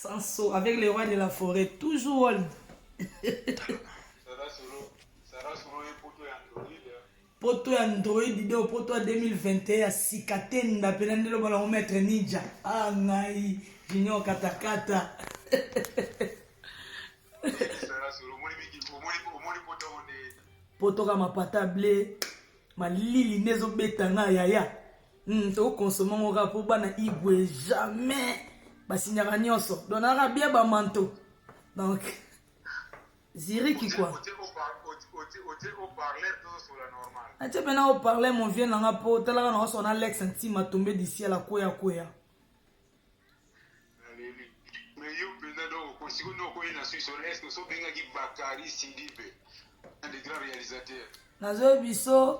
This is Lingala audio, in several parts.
Sanso avec le roi de la forêt toujours wall. poto ya android de poto ya 2021 ya sika te nda mpena nde loba nango maître ninja a ah, ngai junior katakata poto ka mapata ble malili nde ezobeta nga yaya Hmm, to consommer ngo kaka po bana igwe jamais basignaka nyonso donc naka bien bamanto donc ziriki kua atie mpe na oparle mon vieux nanga mpo otalaka na osona lex ntima tombe disiel akweya kweya nazoyebi biso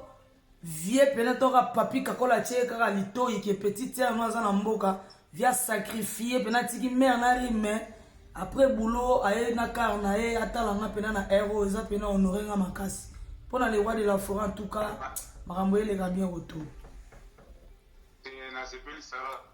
vie pena toka papi kakola atie kaka litoyi ke petit tere no aza na mboka via sacrifie pena atiki mare na rime après boulot aye na kar na ye atala nga pena na ero eza pena honore nga makasi mpo na lewa de la foret en tout cas makambo eleka bien retour eh,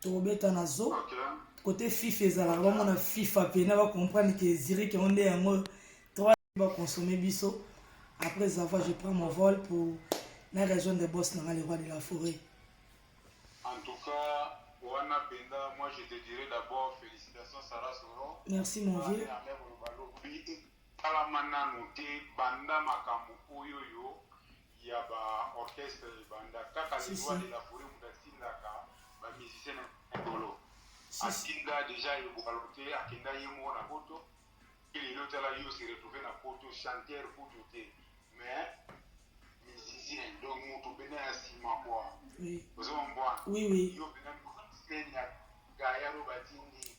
tokobeta na zo kote fifa ezalaka bamona fifa mpena bacomprendre ke zirike yango nde yango trois baconsomme biso après zava je prends mon vol pour na rejoindre bos na nga le roi de la forêt en tout cas wana mpenza moi je te dirai d'abord félicitation sara soro merci mon vieux etalama nanu te banda makambo oyo yo ya ba orchestre ebanda kaka le roi de la foret mutu atindaka ba musicien na likolo atinda deja ebwalo te akenda ye moko na poto mpe lelo tala yo se retrouve na poto chanteur kutu te mais musicien donc mutu mpena ya nsima kua ozomwa mbwana yo mpena musicien ya gayaro batindi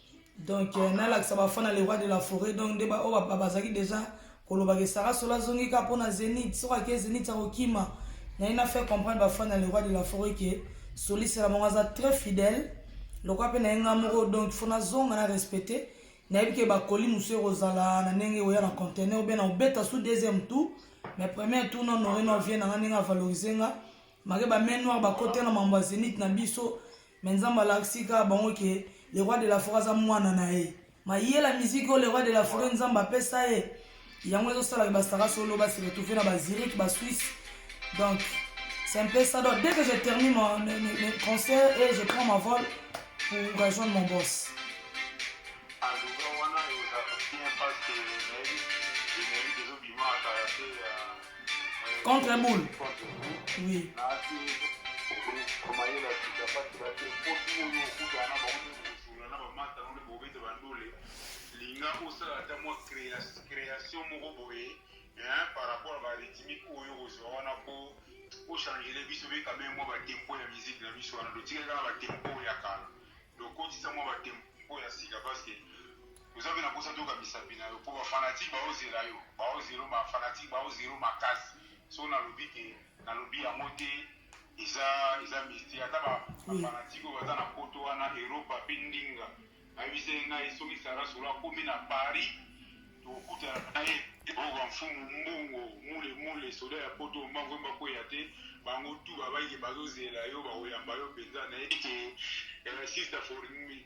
donc euh, nalakisa bafan na le roi de la forêt donc nde baoyo oh, bazalaki déjà kolobaka esara solo azongi kaka mpo na zenith soki ake zenith akokima naye na faire comprendre bafan na le roi de la forêt ke solisela bango aza très fidèle lokwa mpe naye ngai moko donc fo nazonga na respecte nayebi ke bakoli mosusu ekozala na ndenge oya na contener obe na obeta sous deuxième tour mais premier tour na honore na ovie na ngai ndenge avalorise nga make bamain noir bakote na mambo ya zenith na biso Mais nzambe alakisi kaka bango ke le roi de la foret aza mwana na ye mayela musique oyo le roi de la foret nzambe apesa ye yango ezosala ke basara solo basi retrouve na bazirike basuisse donc c'est un peu ça donc dès que je termine mon, mes, mes, mes concert et je prends ma vol pour rejoindre mon boss Contre boule. Oui. linga osala ata mwa création moko boye par rapport ya barythmique oyo kozwa wana po ochangele biso be quand même mwa batempo ya musique na biso wana totikali kaka batempo ya kala tokotisa mwa batempo ya sika parce que Oza pe na posa toyoka misapi nayo po ba fanatique bazo zela yo bazo zelo ba fanatique bazo zelo makasi soki na lobi te na lobi yango te eza eza mistie ata ba ba fanatique oyo baza na poto wana Europa pe ndinga ayebisa ye ngai soki Sarah solo akomi na Paris tokutana na ye oka mfumu mbongo mule mule soda ya poto mbango mba kweya te bango tu babaike bazo zela yo bakoyamba yo penza na ye ke eh, sister for me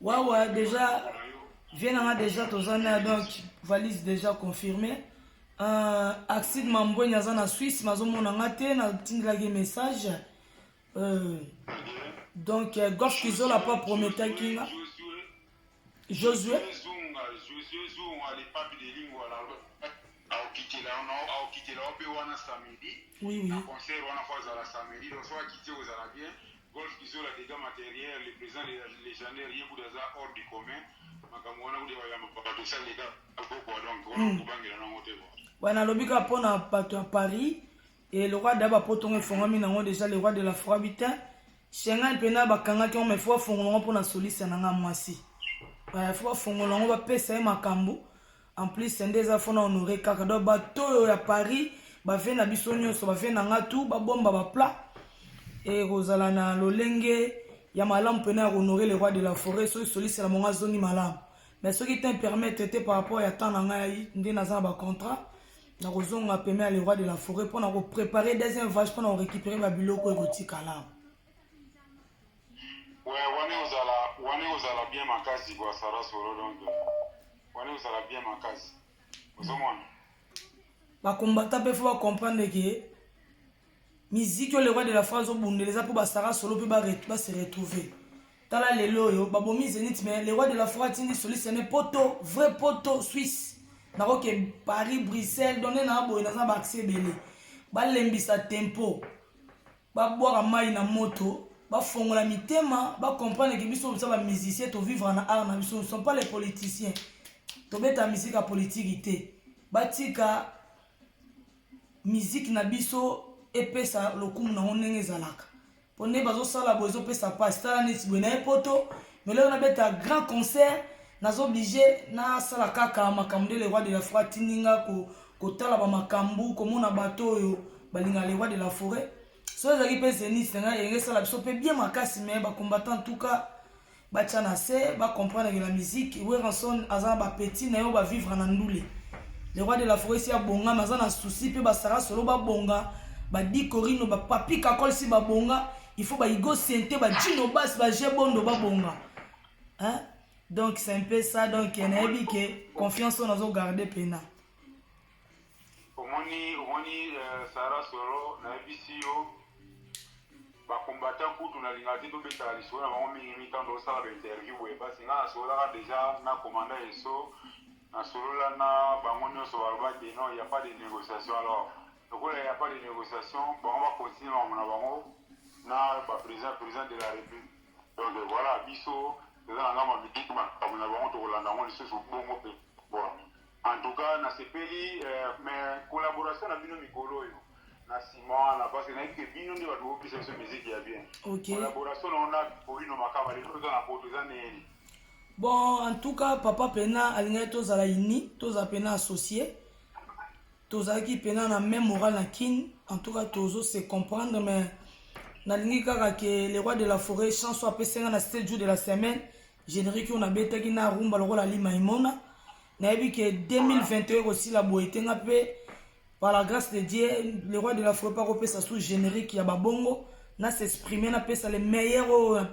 Wawa deja vie na nga deja toza na donc valise deja confirme uh, ah, axide mambweni aza na swisse mazomona nga te natindelaki message uh, donc uh, gorge kizola pa prometaki nga josue oui, oui. na concert wana fo azala samedi donc soki akiti ozala bien Golf kizola degat materiel le president legendaire ye kutu aza hors du commun makambo wana kutu ya bayamba bato esa leka pokwa donc wana hmm. kobangela nango te kua ba nalobi kaka mpo na bato ya paris e lokwa da bapoto ngo efongami nango deja le roi de la froid bitin shengai mpena bakangaki yango mai fo bafongola yango mpo na soliste na ngai mwasi fo bafongola yango bapesa ye makambo En plus sende eza fona honore kaka donc bato oyo ya Paris ba vie na biso nyonso ba vie na nga tout ba bomba ba plat ekozala na lolenge ya malamu pena ya honore le roi de la forêt soki soliste na monga zongi malamu mais soki te permettre te par rapport ya temps na ngai nde naza na ba contrat na kozonga pema ya le roi de la forêt mpo na ko préparer deuxième vache mpo na ko récupérer ba biloko ekotikala Ouais, wana ekozala wana ekozala bien makasi bwa Sarah solo donc wana ekozala bien makasi ozomona bakombata mpe fo bacomprendre ke miziki oyo le roi de la france obundela eza mpo basara solo mpe base retrouver tala lelo oyo babomi zenit mais le roi de la foi atindi soliste yane poto vrai poto suisse nakoke paris bruxelles donne na boye naza baaccès ebele balembisa tempo ba bwaka mayi na moto ba fongola mitema ba comprendre que biso toza ba musiciens to vivre na art na biso nous sommes pas les politiciens tobeta musique ya politiki te batika miziki na biso epesa lokumu nango ndenge ezalaka mpo nde bazosala boye ezopesa mpasi tala neti boye naye poto meloko nabeta grand concert naza oblige nasala kaka makambo nde le roi de la foi atindi nga kotala ba makambu komona bato oyo balinga le roi de la forêt so ezalaki mpe zenith na ngai elenge esala biso mpe bien makasi me bacombattant en tout cas batya na se bacomprendre que la musique weranson aza na bapetit na yo bavivre na ndule le roi de la forêt si abonga me aza na souci mpe basara solo babonga badi corino bapapi kakol si babonga il faut baigo sente bajino bas baje bondo babonga hein? donc c'est un peu ça donc nayebi ke confiance oyo nazogarde mpena omoni omoni euh, sara solo nayebisi yo bakombata kutu nalingaka te tobetaka lisolo na bango mingi mingi ntango tosala bainterview boye mpasi ngai nasololaka deja na komanda eso nasolola na bango nyonso baloba te non ya pas de négociation alors lokola ya pas de négociation bango bakontinue makambo na bango na baprésident président de la république donc voilà biso eza na ngambo ya mitiki makambo na bango tokolanda yango lisusu bongo mpe En tout cas na sepeli eh, mais collaboration na bino mikolo oyo na sima wana parce que nayebi ke bino nde bato bopesa biso miziki ya bien okay. collaboration na ona polino makama lelo toza na poto eza neni bon en tout cas papa pena alingaki tozala uni tozala pena associé tozalaki pena na même moral na kin en tout cas tozo se comprendre mais nalingi kaka ke le roi de la forêt chanso apesi nga na 7 jour de la semaine Generique oyo nabetaki na rumba lokola lima imona nayebi ke 2021 ekosila boye te nga mpe par la grâce de dieu le roi de la fropa akopesa sous générique ya babongo na s'exprime napesa le meilleur oyo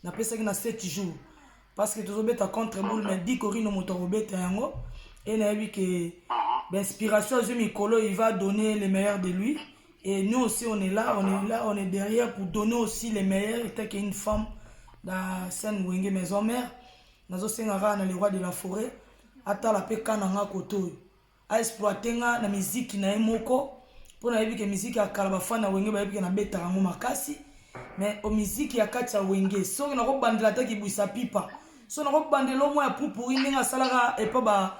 napesaki na 7 jours parce que tozobeta contre boule mais di corino moto akobeta yango e nayebi ke bainspiration azwi mikolo il va donner le meilleur de lui Et nous aussi, on est là, on est là, on est derrière pour donner aussi les meilleurs. Étant qu'il y a une femme dans scène Wenge Maison Mère, nous avons dans les rois de la forêt, ata la peka nanga koto. A exploiter nga na musique na moko pour na que musique ya kala ba fan na Wenge ba yebi na beta ngo makasi. Mais au musique ya katia Wenge, so na ko bandela ta ki buisa pipa. So na ko bandela mo ya pupuri ndinga salaka et pas ba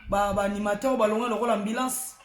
ba, ba animateur ba longa lokola ambulance.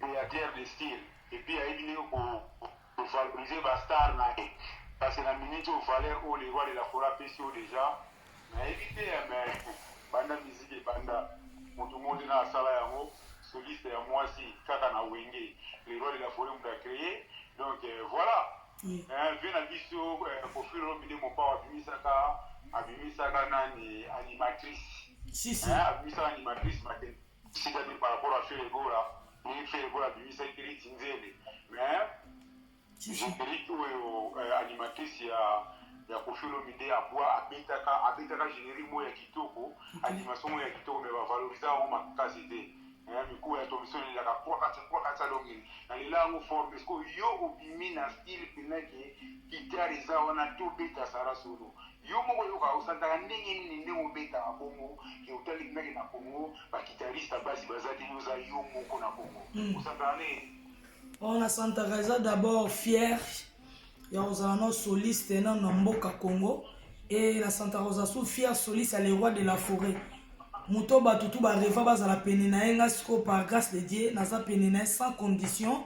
createur de style et puis ayebi ndenge ko valoriser ba stars na ye kasi na minute oyo valeur oyo le roi de la foret apesi yo deja nayebi te ya mais banda musique ebanda moto moko te na asala yango soliste ya mwasi kaka na wenge le roi de la foret moto acreye donc euh, voilà Oui. Eh, vie na biso eh, kofilo lobide mopao abimisaka abimisaka nani animatrice Si, si. Eh, abimisaka animatrice mate Sika te par rapport à Ferre Gola, ni Ferre Gola bimisa Eperiti Nzele, mais Eperiti oyo euh, animatrice ya ya Koffi Olomide abwa abetaka abetaka générique moko ya kitoko, animation moko ya kitoko mais ba valoriser yango makasi te. Eh, mikuwa ya Thomson elelaka kwa kati kwa kati alongeli na lela yango fort mais ko yo obimi na style pena ke guitare eza wana to beta sara solo Yo moko yoka osantaka ndenge nini ndenge obetaka bongo ke otali ngai na congo ba guitariste ya basi baza te yo oza yo moko na congo osantaka ndenge nini oyo na santaka eza d'abord fier ya kozala no soliste nano na mboka congo e na santaka kozala su fier soliste ya le roi de la forêt moto bato tu bareva bazala pene na ye ngai sikoyo par grâce de dieu naza pene na ye sans condition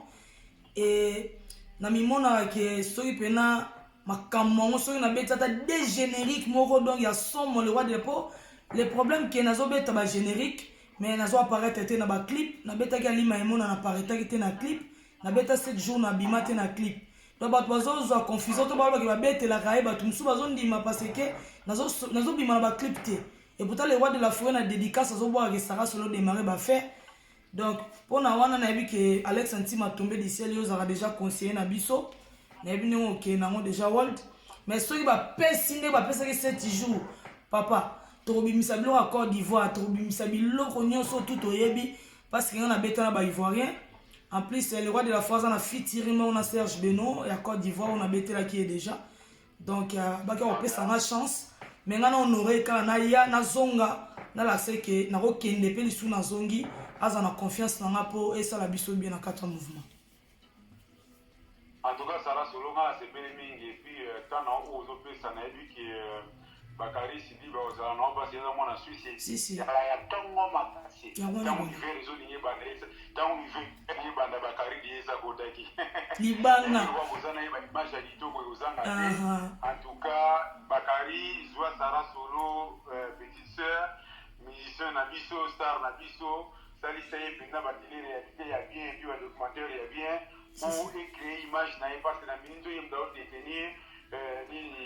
e namimonaka ke soki mpena makambo yango soki nabeti ata de générique moko donc ya somo le roi de po le problème ke nazobeta ba générique mais nazo apparaître te na ba clip nabetaki alima emona naparetaki te na clip nabeta 7 jours nabima te na clip donc bato bazozwa confusion to balobaki babetelaka ye bato mosusu bazondima parce ke nazobima na baclip te epouta le roi de la foret na dédicace azobwakaka esaka solo démarre bafaire Donc pona wana nayebi ke Alex Ntima tombe du ciel yo ozalaka deja conseiller na biso nayebi ndenge okende nango deja world mais soki bapesi nde bapesaki 7 jours papa tokobimisa biloko ya Côte d'Ivoire tokobimisa biloko nyonso tu toyebi parce que nga nabetana ba Ivoirien en plus le roi de la foi aza na fitiri moko na Serge Beno ya Côte d'Ivoire oyo nabetelaki ye deja donc euh, baki kopesa nga chance me nga na honore kala naya nazonga nalakisa eke nakokende mpe lisusu nazongi aza na confiance na nga mpo esala biso bien na kati ya mouvement en tout cas sara solo nga nasepeli mingi epuis euh, temps na oyo ozopesa nayebi ke euh, Bakari Sidibe ozala na mpasi eza mwana Suisse ezala ya ntongo makasi ntango hiver ezolingi ebanda eza ntango hiver elingi ebanda Bakari liye eza kotaki libanga oza na ye ba image ya kitoko ekozanga te en tout cas Bakari zwa Sara Solo euh, petite sœur musicien na biso star na biso salisa ye mpenza batele réalité ya bien epi ba documentaire ya bien po ecree image na ye mpasi na mini nzoyemda odetenir euh, nini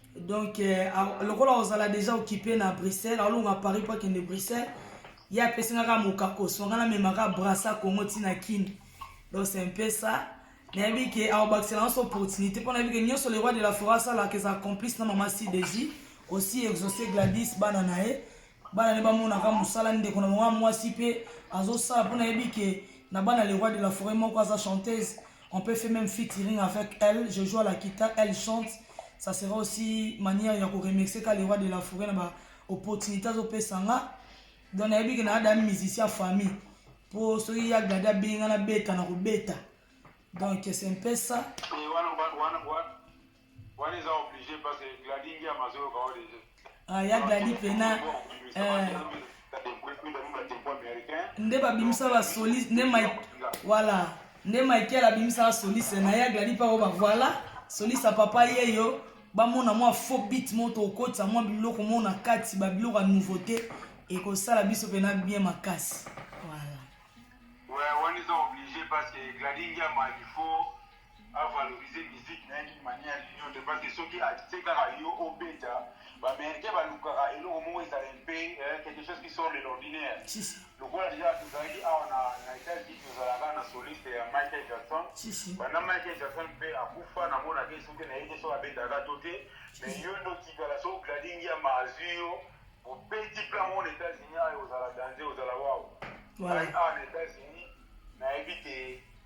donc euh, lokola ozala deja okipe na bruxelles aolonga paris mpo akende bruxelles ye apesi nga kaka mokakoso nga namemaka brasa congo ntina kini donc c'est un peu ça nayebi ke aobakisela nyonso opportunité mpo nayebi ke nyonso le roi de la foret asalaka eza complice na mama cdj aussi exauce gladis bana na ye bana ne bamonaka mosala ndeko na bango mwasi mpe azosala mpo nayebi ke na bana le roi de la forêt moko aza chanteuse on peut fait même featuring avec elle je joue à la guitare elle chante ça sera aussi manière ya koremercie ka le roi de la forêt na ba opportunité azopesa nga donc nayebi ke na ada musicien famille mpo soki ya gladi abengi nga nabeta na kobeta donc c'est un peu ça Wana eza oblige parce que Gladi Ngiama azoyoka yo deja. Ah, ya Gladi pena euh, nde babimisa ba soliste nde Mike voilà nde Michael abimisa ba soliste na ya Gladi pa ba voilà soliste ya papa yeyo bamona mwa faux beat mo tokotisa mwa biloko mo na kati ba biloko ya nouveauté ekosala biso pena bien makasi voilà ouais, wana eza oblige parce que Gladi Ngiama il faut a valoriser musique naye d'une manière d'une autre parce que soki atie kaka yo obeta ba americain balukaka eloko moko ezala un peu quelque chose qui sort de l'ordinaire lokola deja tozalaki awa na, na etats-unis tozalaka na soliste ya michael jackson banda michael jackson mpe akufa namonaki soki na ye te soki abetaka to te mais yo nde otikala soki gladingi ya maazwi yo obeti mpe yango na etats-unis ayo ozala danze ozala wao awa na etats-unis nayebi te